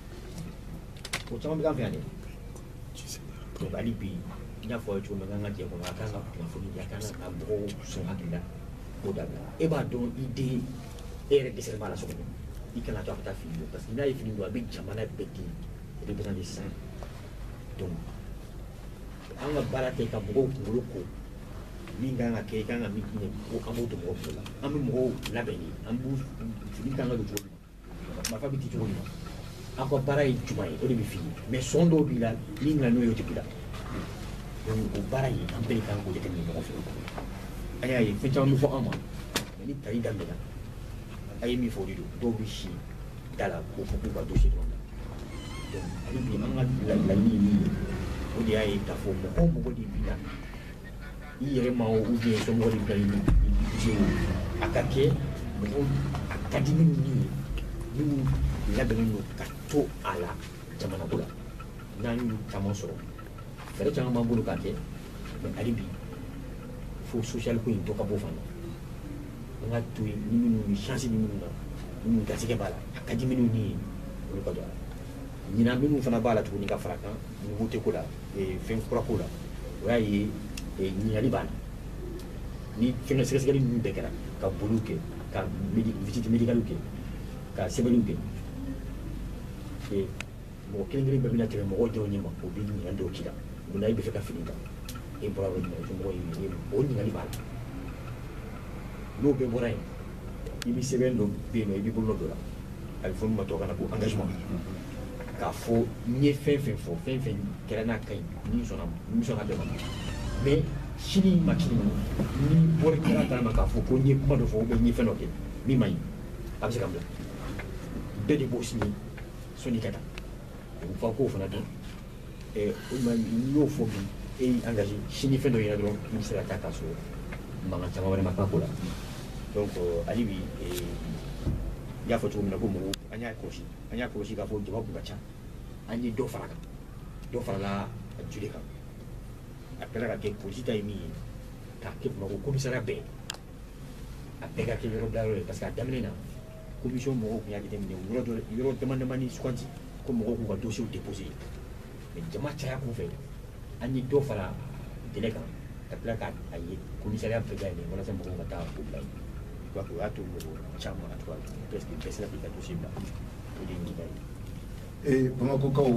o caman bɛ k'an fɛ yan dɛ Hali bi i n'a fɔ cogo ka jɛ kɔnɔ a ka kan ka kunnafoni a ka kan ka mɔgɔw sɔn hakili la o da e b'a dɔn i den e yɛrɛ dɛsɛ b'a la so i kana to a ka taa fini don parce que n'a ye fini don a bɛ jamana bɛɛ di o de bɛ dɛsɛ donc an ka baara kɛ ka mɔgɔw kunkolo ko min kan ka kɛ i kan ka min ko an b'o don mɔgɔw kunkolo la an bɛ mɔgɔw labɛn de an b'u fini kan ka don cogo min marifa bɛ di cogo min na aw ka baara ye jumɛn ye o de bɛ f'i ye mɛ sɔn dɔw b'i la n'i nana n'o ye o tɛ b'i la donc o baara in an bɛɛ de kan k'o jateminɛ ɲɔgɔn fɛ an y'a ye fɛn caman bɛ fɔ an ma mɛ ni tali daminɛna a ye min fɔ o de don dɔw bɛ si da la k'o fɔ k'u ka dossier dɔrɔn donc hali bi an ka laɲini ye min ye o de y'a ye k'a fɔ mɔgɔ o mɔgɔ de b'i la I yɛrɛ ma u bɛ sɔn ka a ka kɛ a ka di ni labɛn ka to a la jamana la n'an y'u caman sɔrɔ fɛɛrɛ caman b'an bolo ka kɛ mɛ hali bi fo sosiyali ko in tɔ ka bɔ fana an ka to yen ni minnu ni sansi ni minnu na minnu garisigɛ b'a la a ka di minnu ni ye olu ka don a la ɲinan minnu fana b'a la tuguni ka fara kan ɲugu tɛ ko la fɛn kura ko la o y'a ye ɲininkali b'a la ni fɛnkɛ sɛgɛsɛgɛli ninnu bɛɛ kɛra ka boliw kɛ ka visite médicale kɛ ka sɛbɛnniw kɛ mɔgɔ kelen kelen bɛɛ bɛna tɛmɛ mɔgɔw dɔw ɲɛ ma o bɛ ɲininkali dɔw k'i la mun na i b'a fɛ ka fini kan e bɔra o ɲininkali fɛ mɔgɔ ye o ɲininkali b'a la n'o bɛɛ bɔra yen i bɛ sɛbɛn dɔ bɛ yen nɔ i b'i bolo d'o la a bɛ fɔ min ma tubabukan na ko engagement k'a fɔ n ye fɛn fɛn fɔ fɛn fɛn kɛra n'a ka ɲi ne sɔnna ne sɔnna bɛɛ ma mais sini ma kini ma ni bɔli kɛra kala ma k'a fɔ ko n ye kuma dɔ fɔ ou bien n ye fɛn dɔ kɛ min ma ɲi a bɛ se ka n bila bɛɛ de b'o signer sanni ka taa u fa k'o fana dɔn eh, n y'o fɔ bi e y'i engagé sini fɛn dɔ yera dɔrɔn i bɛ se ka taa k'a sɔrɔ mankan caman wɛrɛ ma k'a ko la donc hali bi eh, n y'a fɔ cogo min na ko mɔgɔw an y'a kɔlɔsi an y'a kɔlɔsi k'a fɔ jama tun ka ca an ye dɔ fara kan dɔ farala a durée kan a kɛra ka kɛ polisi ta ye min ye k'a kɛ bamakɔ komisariya bɛɛ a bɛɛ ka kɛ yɔrɔ bila yɔrɔ ye parce que a daminɛ na komisiyɔn mɔgɔw tun y'a jateminɛ yɔrɔ dɔ yɔrɔ dama damani sugandi ko mɔgɔw k'u ka dosiyew depose jama caya kun fɛ an ye dɔ fara délai kan ka tila ka a ye komisariya bɛɛ ka yɛlɛ walasa mɔgɔw ka taa o bila yen donc o y'a to mɔgɔ caman en tout cas presque bɛɛ sera k'i ka dossier bila o de ye nin ka ye Eh, bamakɔkaw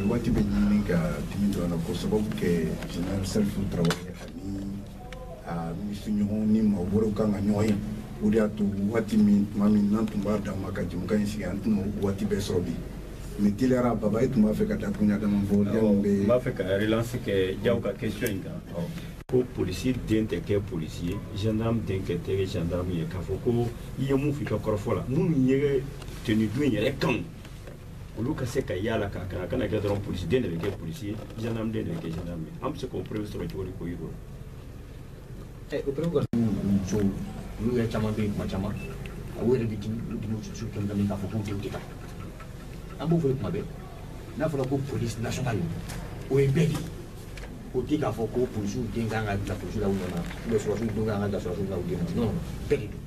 waati bɛ ɲini ka dimi dɔ la ko sababu kɛ general salifu tarawele ani a minisiriɲɔgɔn ni maa wɛrɛw kan ka ɲɔgɔn ye o de y'a to waati min tuma min n'an tun b'a dan ma ka jɛmukan in sigi an tɛna waati bɛɛ sɔrɔ bi mais teliyara baba e tun b'a fɛ ka dakuruɲɛ dama fɔ yanni bɛ n b'a fɛ ka relance kɛ jaw ka question in kan ko polisi den tɛ kɛ polisi ye gendarme den kɛ tɛ gendarme ye k'a fɔ ko i ye min f'i ka kɔrɔfɔ la minnu ye tenue don in yɛrɛ kanu olu ka se ka yala ka kana kana kɛ dɔrɔn polisi den de bɛ kɛ polisi ye gendarme den de bɛ kɛ gendarme ye an bɛ se k'o preuve sɔrɔ cogo di k'o yir'u la. o preuve ka musow olu yɛrɛ caman bɛ yen kuma caman a u yɛrɛ bɛ dimi olu dimi su kɛmɛ kɛmɛ k'a fɔ k'u denw tɛ ta an b'o fɔ kuma bɛɛ n'a fɔra ko polisi nationale o ye bɛɛ de ye o tɛ k'a fɔ ko polisiw den kan ka bila polisiw la u nɔ na ou bien sɔrɔsiw den kan ka bila sɔrɔsiw la u den na non bɛɛ de don.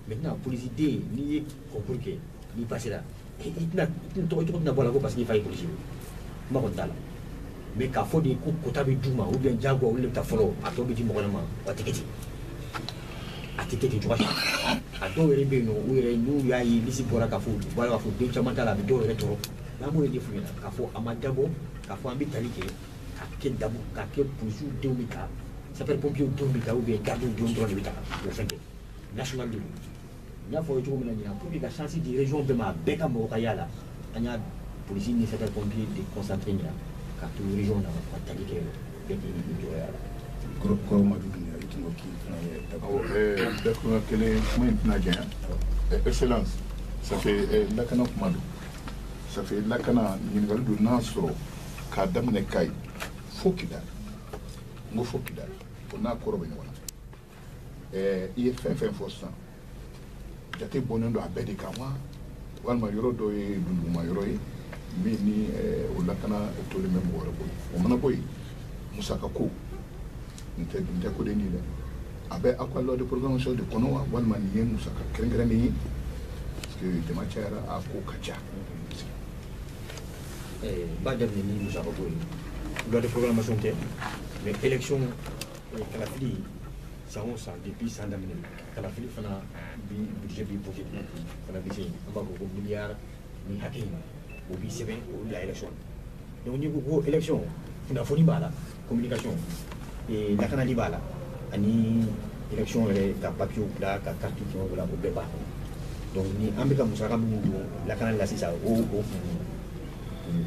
mais tɛna polisi den n'i ye kɔnkuru kɛ n'i pasira i tɛna tɔgɔ cogo tɛna bɔ la ko parce que i fa ye polisi ye kuma kɔni t'a la mais k'a fɔ de ko kota bɛ d'u ma ou bien jagoya olu de bɛ ta fɔlɔ a tɔ bɛ di mɔgɔ ma a tɛ kɛ ten a tɛ kɛ ten cogoya si a dɔw yɛrɛ bɛ yen nɔ u yɛrɛ n'u y'a ye lisi bɔra k'a fɔ u b'a k'a fɔ den caman t'a la a bɛ dɔw yɛrɛ tɔɔrɔ n'an b'o de f'u ɲɛna k'a fɔ a ma dabɔ k'a fɔ an bɛ tali kɛ k'a kɛ dabu k'a kɛ polisiw denw bɛ ta sapɛri pɔmpiyew denw bɛ ta ou bien garidiw denw dɔrɔn de bɛ ta o fɛnkɛ national de n y'a fɔ cogo min na ɲinan pour que ka chance di région bɛɛ ma a bɛɛ ka mɔgɔ ka y'a la an y'a polisi ni sapeur pompier déconcentré ɲinan ka to région na ka tali kɛ bɛɛ k'i ni jɔyɔrɔ y'a la kɔrɔ madu dunya i tun ko k'i fana ye awɔ dakuma kelen kuma in tɛna janya excellence ça fait lakana kuma don ça fait lakana ɲininkali don n'a sɔrɔ k'a daminɛ kayi fo kidali n ko fo kidali o n'a kɔrɔ bɛ ɲɔgɔn na ɛɛ i ye fɛn fɛn fɔ sisan jate bɔnnen don a bɛɛ de kan wa walima yɔrɔ dɔ ye dunduguma yɔrɔ ye min ni o lakana tolen bɛ mɔgɔ wɛrɛ bolo o mana bɔ yen musaka ko nin tɛ nin tɛ ko dennin ye dɛ a bɛ aw ka loi de programmation de kɔnɔ wa walima nin ye musaka kɛrɛnkɛrɛnnen ye parce que jama cayara a ko ka ca b'a daminɛ ni musaka ko ye loi de programmation tɛ mais élection kalafili san o san depuis san daminɛ kalafili fana bi budget bi voté fana bɛ se an b'a fɔ ko miliyari nin hakɛ in o bi sɛbɛn o bila élection donc n'i ko ko élection kunnafoni b'a la communication lakanali b'a la ani élection yɛrɛ ka papiyew bila ka kariti fɛn o la o bɛɛ b'a kɔnɔ donc ni an bɛ ka musaka minnu don lakanali la sisan o o kun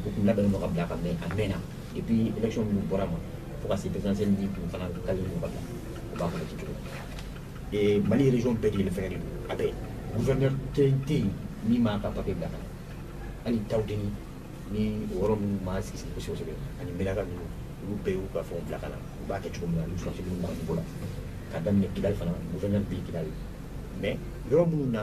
o kun labɛnnen don ka bila ka mɛn a mɛnna depuis élection minnu bɔra ma fo ka se présidentielle ni tun fana kali ɲɔgɔn la o b'a kɔnɔ ci cogo ee mali région bɛɛ kelen fɛnkɛ de don a bɛɛ gouverneur tɛ tɛ yen min b'a ka papier bila ka na hali tawudeni ni o yɔrɔ minnu ma sigi sigi kosɛbɛ kosɛbɛ ani menaka ninnu olu bɛɛ y'u ka fɛnw bila ka na u b'a kɛ cogo min na olu sɔrɔdasi minnu ka niveau la ka daminɛ kidali fana gouverneur bɛ yen kidali mais yɔrɔ minnu na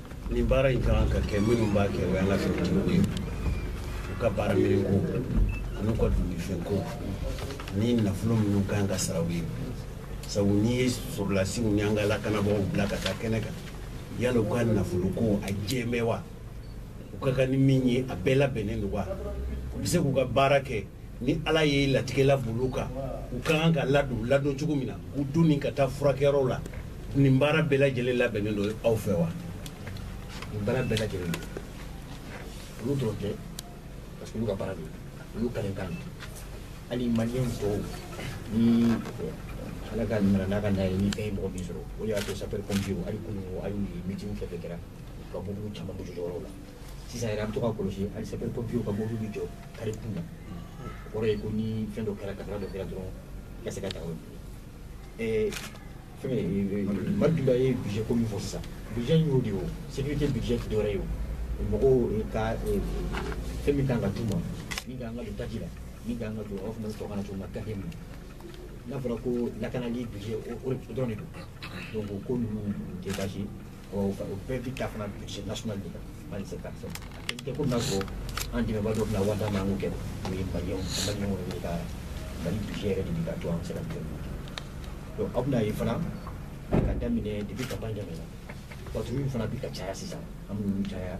nin baara in ka kan ka kɛ minnu b'a kɛ o y'an ka finitigiw ye u ka baara minɛn ko an'u ka dumuni ko ni nafolo minnu ka kan ka sara u ye sabu n'i ye sɔrɔlasiw ni an ka lakanabagaw bila ka taa kɛnɛ kan yala u ka nafolo ko a jɛmɛ wa u ka kan ni min ye a bɛɛ labɛnnen don wa u bɛ se k'u ka baara kɛ ni ala ye latigɛla bolo kan u ka kan ka ladon ladon cogo min na u doni ka taa furakɛyɔrɔ la nin baara bɛɛ lajɛlen labɛnnen don aw fɛ wa nin baara bɛɛ lajɛlen don olu dɔrɔn tɛ parce que olu ka baara don olu kalikan don hali maliyɛn tɔw ni ala ka nana n'a ka n'a ye ni fɛn ye mɔgɔ min sɔrɔ o de y'a to sapɛri pɔmpiyew hali kunu hali meetingw fɛn fɛn kɛra ka bɔ caman bɔ yɔrɔw la sisan yɛrɛ an bɛ to ka kɔlɔsi hali sapɛri pɔmpiyew ka mobili bɛ jɔ kare kun na o kɔrɔ ye ko ni fɛn dɔ kɛra kasara dɔ kɛra dɔrɔn i ka se ka taa o fɛn madu dunbiya ye budget ko min fɔ sisan budget in y'o de ye o sécurité budget tɛ dɔwɛrɛ ye o mɔgɔw ka fɛn min kan ka d'u ma min ka kan ka don taji la min ka kan ka don aw fana bɛ sɔrɔ ka na cogo min na gafe min n'a fɔra ko lakanali budget o dɔrɔn de don donc o ko ninnu tɛ baasi ye o bɛɛ bi ta fana budget national de mali c'est parti te ko na ko an dɛmɛba dɔ bɛna wari d'an ma k'o kɛ o ye maliɲɛw maliɲɛw de ka mali budget yɛrɛ de bi ka to an sera bi donc aw bɛn'a ye fana ka daminɛ depuis campagne daminɛna patrouille fana bi ka caya sisan an b'olu caya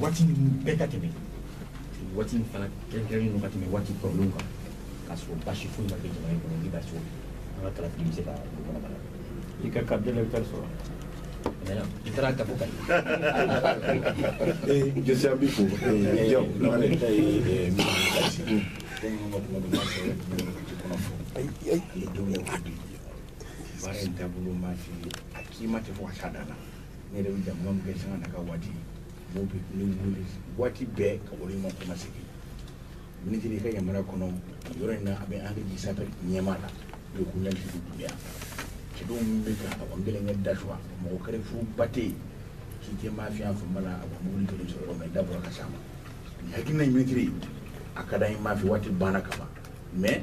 waati ninnu bɛɛ ka tɛmɛ waati in fana kɛrɛnkɛrɛnnen don ka tɛmɛ waati kɔrɔlenw kan k'a sɔrɔ basi foyi ma kɛ jamana in kɔnɔ ni basi an ka kalafili bɛ se ka don kɔnɔ bana i ka carte d'électeur sɔrɔ i taara kafo ka jɛsi an b'i fo jaw lamane ta ye min kasi komi ka kuma dɔ ma sɔrɔ kɔnɔ fɔ ale denw ye baara in taabolo ma fi a k'i ma tɛ fɔ ka s'a dan na ne yɛrɛ bɛ jɛmu min kɛ sanga na ka waati mɔgɔw bɛ ne wele waati bɛɛ ka wale ma kuma sigi minisiri i ka yamaruya kɔnɔ yɔrɔ in na a bɛ an ka jisa ka ɲɛma la n'o kun na dugu dunya cɛdenw min bɛ ka a kɔni bɛ kɛ dasuwa mɔgɔ kɛrɛ furu ba tɛ yen k'i tɛ maa fiyan fanba la a kɔni wuli kelen sɔrɔ yɔrɔ min da bɔra ka s'a ma nin hakilina in minisiri a ka d'an ye maa fɛ waati banna ka ban mɛ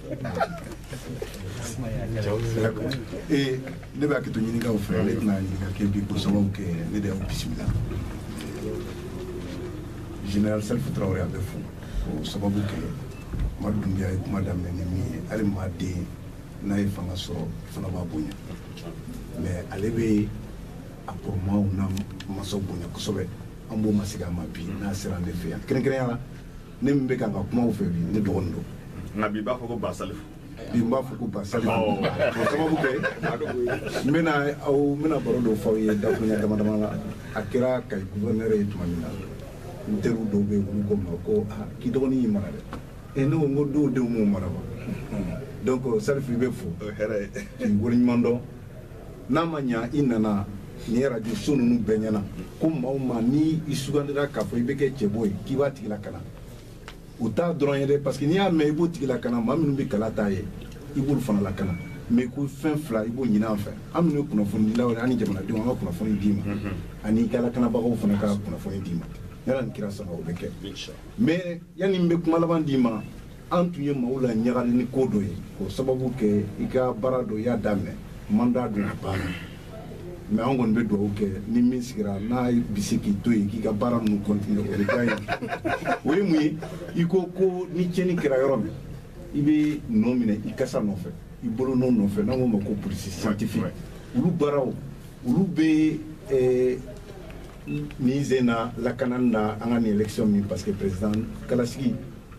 ee ne bɛ hakɛto ɲini k'aw fɛ ne tɛna ɲininka kɛ bi k'o sababu kɛ ne de y'aw bisimila général salifu tarawele a bɛ fo o sababu kɛ madu dunbiya ye kuma daminɛ ni min ye hali maa den n'a ye fanga sɔrɔ fana b'a bonya mais ale bɛ a kɔrɔmaw n'a masaw bonya kosɛbɛ an b'o masegin a ma bi n'a sera an de fɛ yan kɛrɛnkɛrɛnya la ne min bɛ ka ka kuma aw fɛ bi ne dɔgɔnin don nka bi n b'a fɔ ko ba salifu bi n b'a fɔ ko ba salifu o sababu kɛ n bɛna aw n bɛna baro dɔ fɔ aw ye dakurunya dama dama la a kɛra kayi guvɛrnɛrɛ ye tuma min na n teriw dɔw bɛ yen olu ko n ma ko aa k'i dɔgɔnin y'i mara dɛ e ne ko n ko dɔw denw m'u mara wa donc salifu i bɛ fo k'i waleɲuman dɔn n'a ma ɲa i nana nin ye radio so ninnu bɛɛ ɲɛ na ko maa o maa ni i sugandira k'a fɔ i bɛ kɛ cɛbɔ ye k'i b'a tigi lakana o t'a dɔrɔn ye dɛ parce que n'i y'a mɛn i b'o tigi lakana maa minnu bɛ kala t'a ye i b'olu fana lakana mais ko fɛn fila i b'o ɲini an fɛ an minnu ye kunnafonidilaw ye an ni jamanadenw an ka kunnafoni d'i ma mhm. ani i ka lakanabagaw fana ka kunnafoni d'i ma yala nin kira saba o bɛ kɛ mais yanni n bɛ kuma laban d'i ma an tun ye maaw la ɲagali ni ko dɔ ye k'o sababu kɛ i ka baara dɔ y'a daminɛ manda don a baara mais an kɔni bɛ dugawu kɛ ni min sigira n'a bɛ se k'i to yen k'i ka baara ninnu continuer o ka ye o ye mun ye i ko ko ni cɛni kɛra yɔrɔ min i bɛ nɔ minɛ i kasa nɔfɛ i bolo nɔ nɔfɛ n'an k'o ma ko police scientifique olu baaraw olu bɛ eh, nin zen na lakanan na an ka nin election min parce que président kalasigi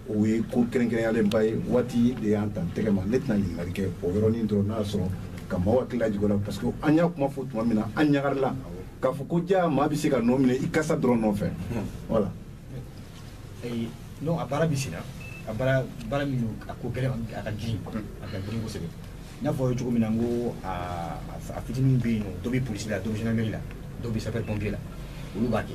o ye ko kɛrɛnkɛrɛnyalenba ye waati de y'an t'an tɛgɛ mais ne tɛna ɲininkali kɛ o yɔrɔnin dɔrɔn n'a sɔrɔ ka maaw hakili lajigin o la parce que an y'a kuma fɔ tuma min na an ɲagalila k'a fɔ ko jaa maa bɛ se ka nɔ minɛ i kasa dɔrɔn nɔfɛ voilà a baara bɛ sen a baara min a ka gɛlɛn a ka ji a ka girin kosɛbɛ n'a fɔ ye cogo min na n ko a fitinin bɛ yen dɔ bɛ polisi la dɔ bɛ gendarmerie la dɔ bɛ sapeur pompier la olu b'a kɛ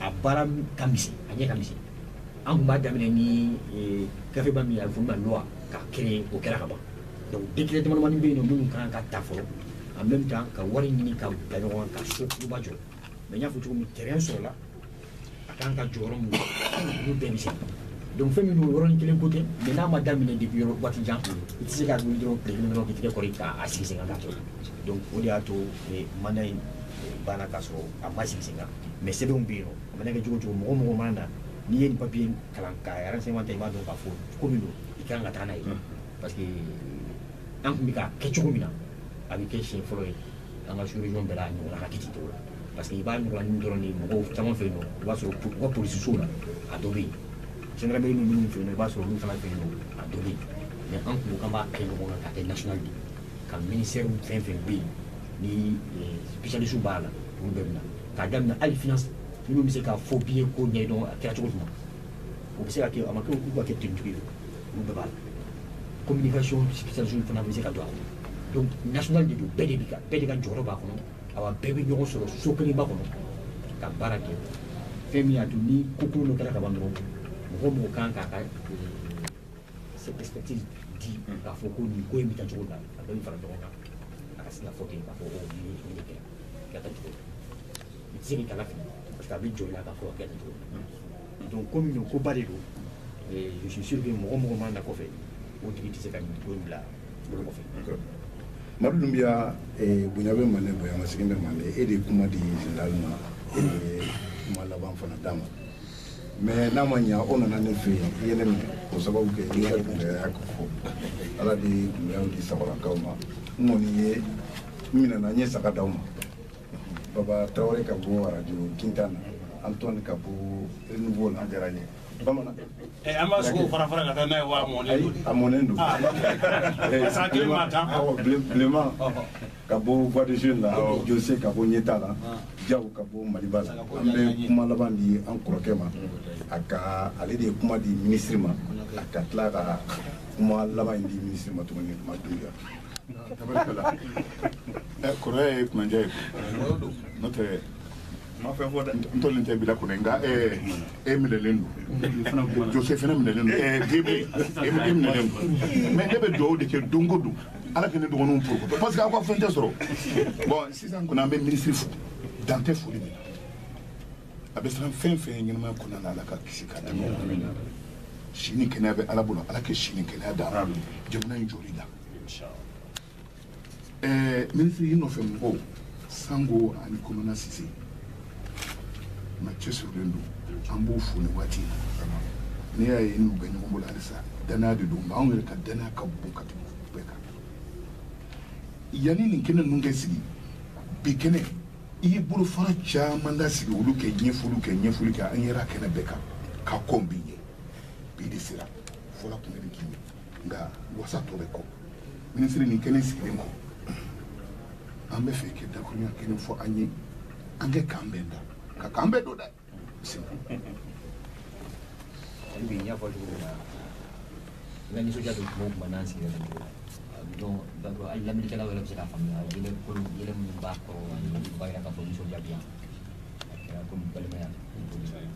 a baara ka misɛn a ɲɛ ka misɛn an tun b'a daminɛ ni eh, gafeba min ye a bɛ fɔ min ma loi ka créer o kɛra ka ban donc décret damadamani bɛ yen nɔ minnu ka kan ka ta fɔlɔ en même temps ka wari ɲini ka bila ɲɔgɔn kan ka so kuruba jɔ mais n y'a fɔ cogo min terrain sɔrɔla a kan ka jɔ yɔrɔ min olu bɛɛ bɛ se donc fɛn min don yɔrɔnin kelen ko tɛ mais n'a ma daminɛ depuis yɔrɔ waati jan i tɛ se ka wuli dɔrɔn tile kelen dɔrɔn k'i tɛgɛ kɔri k'a sigi sen kan k'a kɛ donc o de y'a to eh, mandat in eh, banna k'a sɔrɔ a ma sigi sen kan mais sɛbɛnw bɛ yen a mana kɛ cogo cogo mɔgɔ mɔgɔ mana na n'i ye nin papier kalan ka yɛrɛ sema ta i b'a dɔn k'a fɔ ko min don i kan ka taa n'a ye parce que an tun bɛ k'a kɛ cogo min na a bɛ kɛ siɲɛ fɔlɔ ye an ka sous-région bɛɛ la ɲɔgɔn ka kiti tɔw la parce que i b'a ɲɔgɔn ni dɔrɔn ni mɔgɔw caman fɛ yen nɔ i b'a sɔrɔ u ka polisisow la a dɔ bɛ yen gendarmerie bɛ minnu fɛ yen nɔ i b'a sɔrɔ olu fana fɛ yen nɔ a dɔ bɛ yen mais an tun kan b'a kɛ ɲɔgɔn kan ka kɛ national de ye ka ministèrew fɛn fɛn bɛ yen ni sipesiyalisiw b'a la olu bɛɛ bɛna k'a daminɛ hali finance minnu bɛ se ka faux billet ko ɲɛdɔn a kɛra cogo jumɛn o bɛ se ka kɛ a ma kɛ olu ka kɛ authentique ye olu bɛɛ b'a la communication sipesiyalisiw fana bɛ se ka don a kɔnɔ donc national de don bɛɛ de bɛ ka bɛɛ de ka jɔyɔrɔ b'a kɔnɔ awa bɛɛ bɛ ɲɔgɔn sɔrɔ so kelenba kɔnɔ ka baara kɛ fɛn min y'a to ni ko kolon dɔ kɛra ka ban dɔrɔn mɔgɔ mɔgɔ kan k'a ka cette perspective di k'a fɔ ko nin ko in bɛ taa cogo la a bɛ nin fara ɲɔgɔn kan a ka se ka fɔ ten k'a fɔ ko nin ye nin de kɛ ka taa cogo la i tɛ se k'i kala fili parce que a bɛ jɔ i la k'a fɔ ka kɛ nin cogo la donc komi nin koba de don je suis sûr que mɔgɔ mɔgɔ mana na kɔfɛ o tigi tɛ se ka nin ko in bila bolo kɔfɛ. madu dunbiya bonya bɛ mande bonya masegin bɛ mande e de ye kuma di général ma kuma laban fana d'a ma. mais n'a ma ɲɛ o nana ne fɛ yen i ye ne minɛ o sababu kɛ i ka gɛlɛya ko fɔ ala de ye gɛlɛyaw di sabalakaw ma n kɔni ye n minɛna n ye saga d'aw ma baba tarawele ka bɔ arajo gintan na antoine ka bɔ renouveau la jara ye bamanan eh, an b'a sogo fara fara ka taa n'a ye wa a mɔnen don a mɔnen don parce que a tile ma tan bilenman ka bɔ voix des jeunes la jose ka bɔ ɲɛtaa la jawo ka bɔ maliba la an bɛ kuma laban di an kɔrɔkɛ ma a ka ale de ye kuma di ministre ma a ka tila ka kuma laban in di ministre ma tuguni ma duya kɔrɔya ye kunnandiya ye n'o tɛ ma fɛn fɔ dɛ n tɔlen tɛ bila kɔnɔ nka e minɛlen don jose fana minɛlen don gebe e minɛlen don mais ne bɛ dugawu de kɛ don o don ala ka ne dɔgɔninw porokoto parce que aw ka fɛn tɛ sɔrɔ bɔn sisan kɔni an bɛ minisiri fo dan tɛ foli min na a bɛ siran fɛn o fɛn ɲɛ ɲɛnamaya kɔnɔna na ala k'a kisi k'a tanga si ni kɛnɛya bɛ ala bolo ala ka si ni kɛnɛya da jamana in jɔli kan ɛɛ minisiri i nɔfɛ mɔgɔw sango ani kolonɛli sise maa cɛsirilenw don an b'u fo nin waati n'i y'a ye n'u bɛ ɲɔgɔn bolo halisa danaya de don nka anw yɛrɛ ka danaya ka bon ka tɛmɛ u bɛɛ kan yanni nin kɛnɛ ninnu ka sigi bi kɛnɛ i ye bolofara caman da sigi olu ka ɲɛfɔliw kɛ ɲɛfɔli kɛ an yɛrɛ kɛnɛ bɛɛ kan ka kɔn bi ɲɛ bi de sera fɔlɔ kun bɛ k'i ye nka wasa tɔ bɛ kɔ minisiri nin kɛnɛ sigilen kɔ an b'a fɛ i ka dakuruɲɛ kelen fɔ an ye an kɛ k'an bɛn da ka k'an bɛɛ don dɛ bi n y'a fɔ cogo min na n ka nisɔndiya don kuma o kuma n'an sigira nin cogo la donc donc hali laminikɛlaw yɛrɛ bɛ se k'a faamuya yɛlɛ ko yɛlɛ minnu b'a kɔrɔ ani b'a yira k'a fɔ nisɔndiya bɛ yan a kɛra komi balimaya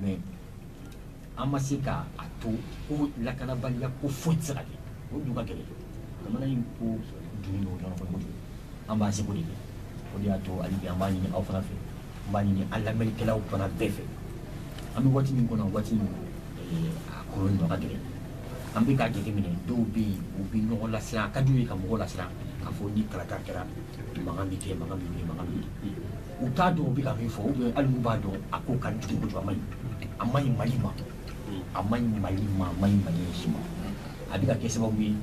mais an ma se ka a to ko lakanabaliya ko foyi tɛ se ka kɛ o dun ka gɛlɛn jamana in ko donnen don ɲɔgɔn kɔnɔ kojugu an b'an seko de kɛ o de y'a to hali bi an b'a ɲini aw fana fɛ an b'a ɲini an lamɛnnikɛlaw fana bɛɛ fɛ an bɛ waati min kɔnɔ waati min eh, a kɔlɔlɔ ɲɔgɔn ka gɛlɛn an bɛ k'a jateminɛ dɔw bɛ yen u bɛ ɲɔgɔn lasiran a ka d'u ye ka mɔgɔw lasiran k'a fɔ ni kalata kɛra mankan bɛ kɛ mankan bɛ wuli mankan bɛ wuli u t'a dɔn u bɛ ka min fɔ ou bien hali n'u b'a dɔn a ko ka jugu kojugu a ma ɲi a ma ɲi mali ma a ma ɲi mali ma a ma ɲi mali si ma a bɛ ka kɛ sababu ye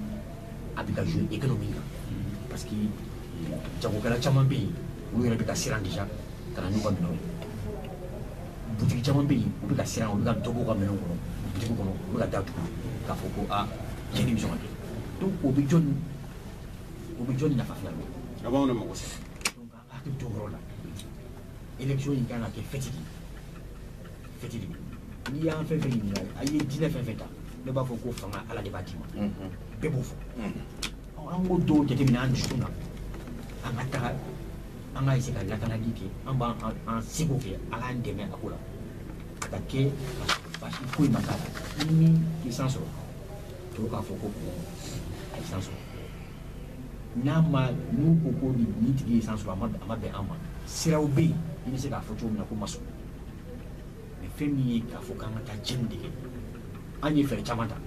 a bɛ ka jouer économie kan parce que jagokɛla caman bɛ yen olu yɛrɛ bɛ ka siran déjà ka na n'u ka minɛnw ye butigi caman bɛ yen u bɛ ka siran u bɛ ka dɔ b'u ka minɛnw kɔnɔ butigi kɔnɔ u bɛ ka da tugu k'a fɔ ko aa tiɲɛni bɛ sɔn ka kɛ donc o bɛ jɔni o bɛ jɔni nafa fana bɛ a b'anw de mago sa hakili to yɔrɔ la élection in kan ka kɛ fɛti ye fɛti de n'i y'an fɛn fɛn ɲininka a ye diinɛ fɛn fɛn ta ne b'a fɔ ko fanga ala de b'a d'i ma bɛɛ b'o fɔ an k'o dɔw jateminɛ an dusukun na an ka taga an ka essayer ka lakanali kɛ an bɛ an seko kɛ ala an dɛmɛ a ko la a ka kɛ basi foyi ma k'a la ni min ye san sɔrɔ tɔw k'a fɔ ko a ye san sɔrɔ n'a ma n'u ko ko nin tigi ye san sɔrɔ a ma bɛn an ma siraw bɛ yen i bɛ se k'a fɔ cogo min na ko n ma sɔn mais fɛn min ye k'a fɔ k'an ka taa cɛnni de kɛ an ye fɛɛrɛ caman ta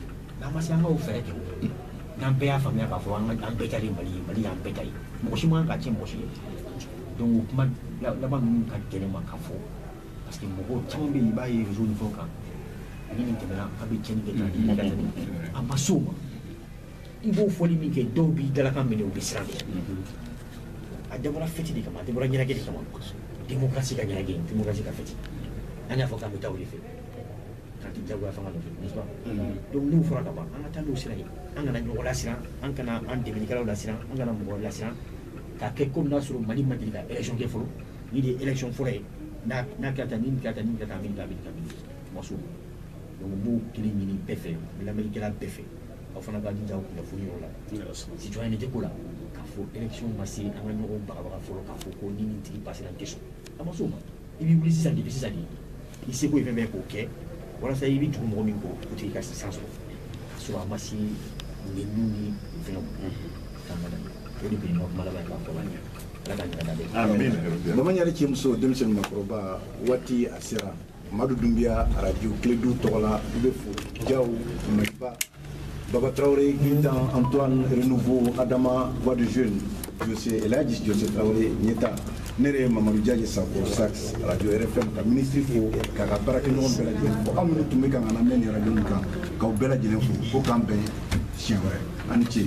n'an ma se an ka o fɛɛrɛ kɛ o n'an bɛɛ y'a faamuya k'a fɔ an bɛɛ ta de ye mali ye mali y'an bɛɛ ta ye mɔgɔ si man kan k'a tiɲɛ mɔgɔ si ye donc o kuma laban ninnu ka gɛlɛn n ma k'a fɔ parce que mɔgɔ caman bɛ yen i b'a ye réseau ni fɛnw kan ni nin tɛmɛna an bɛ tiɲɛni kɛ ka nin ka tɛmɛ an ma se o ma i b'o foli min kɛ dɔw b'i dalakan minɛ u bɛ siran de a dabɔra fɛti de kama a dabɔra ɲɛnajɛ de kama démocratie ka ɲɛnajɛ démocratie ka fɛti an y'a fɔ k'an bɛ taa o de fɛ k'an tɛ jagoya fanga nɔfɛ n'est-ce pas donc n'o fɔra ka ban an ka taa n'o sira ye an kana ɲɔgɔn lasiran an kana an dɛmɛnikɛlaw lasiran an kana mɔgɔ lasiran k'a kɛ komi n'a sɔrɔ mali ma deli ka élection kɛ fɔlɔ nin de ye élection fɔlɔ ye n'a kɛra tan ni nin kɛra tan ni nin kɛra tan a bɛ nin kɛ a bɛ nin kɛ a bɛ nin kɛ an ma s'o ma donc n b'o kelen ɲini bɛɛ fɛ lamɛnnikɛla bɛɛ fɛ aw fana ka jija kunnafoni yɔrɔ la citoyenneté ko la k'a fɔ élection ma se an ka ɲɔgɔn bagabaga fɔlɔ k'a fɔ ko ni nin tigi pasera n tɛ sɔn an ma s'o ma i b'i wuli sisan depuis sisan de i seko ye fɛn bɛɛ k'o kɛ walasa i bɛ tugu mɔgɔ min kɔ o tigi ka san sɔrɔ k'a sɔrɔ a ma se nɛniniw ni fɛnw k'a ma daminɛ o de bɛ yen nɔ kuma laban ye k'a fɔ la ɲɛ ala ka ɲɛ ka da bɛɛ bamaɲare cɛ muso denmisɛnnin makɔrɔba waati a sera amadu dunbiya arajo kiledu tɔgɔ la i bɛ fo jaw maliba baba tarawele gintan antoine renouveau adama voix des jeunes jose elaji jose tarawele ɲɛta ne yɛrɛ ye mamadu jaji sako sax radio rfm ka minisiri fo k'a ka baarakɛɲɔgɔn bɛɛ lajɛlen fo aw minnu tun bɛ k'an kan lamɛn nin radio nin kan k'aw bɛɛ lajɛlen fo ko k'an bɛn siɲɛ wɛrɛ ani ce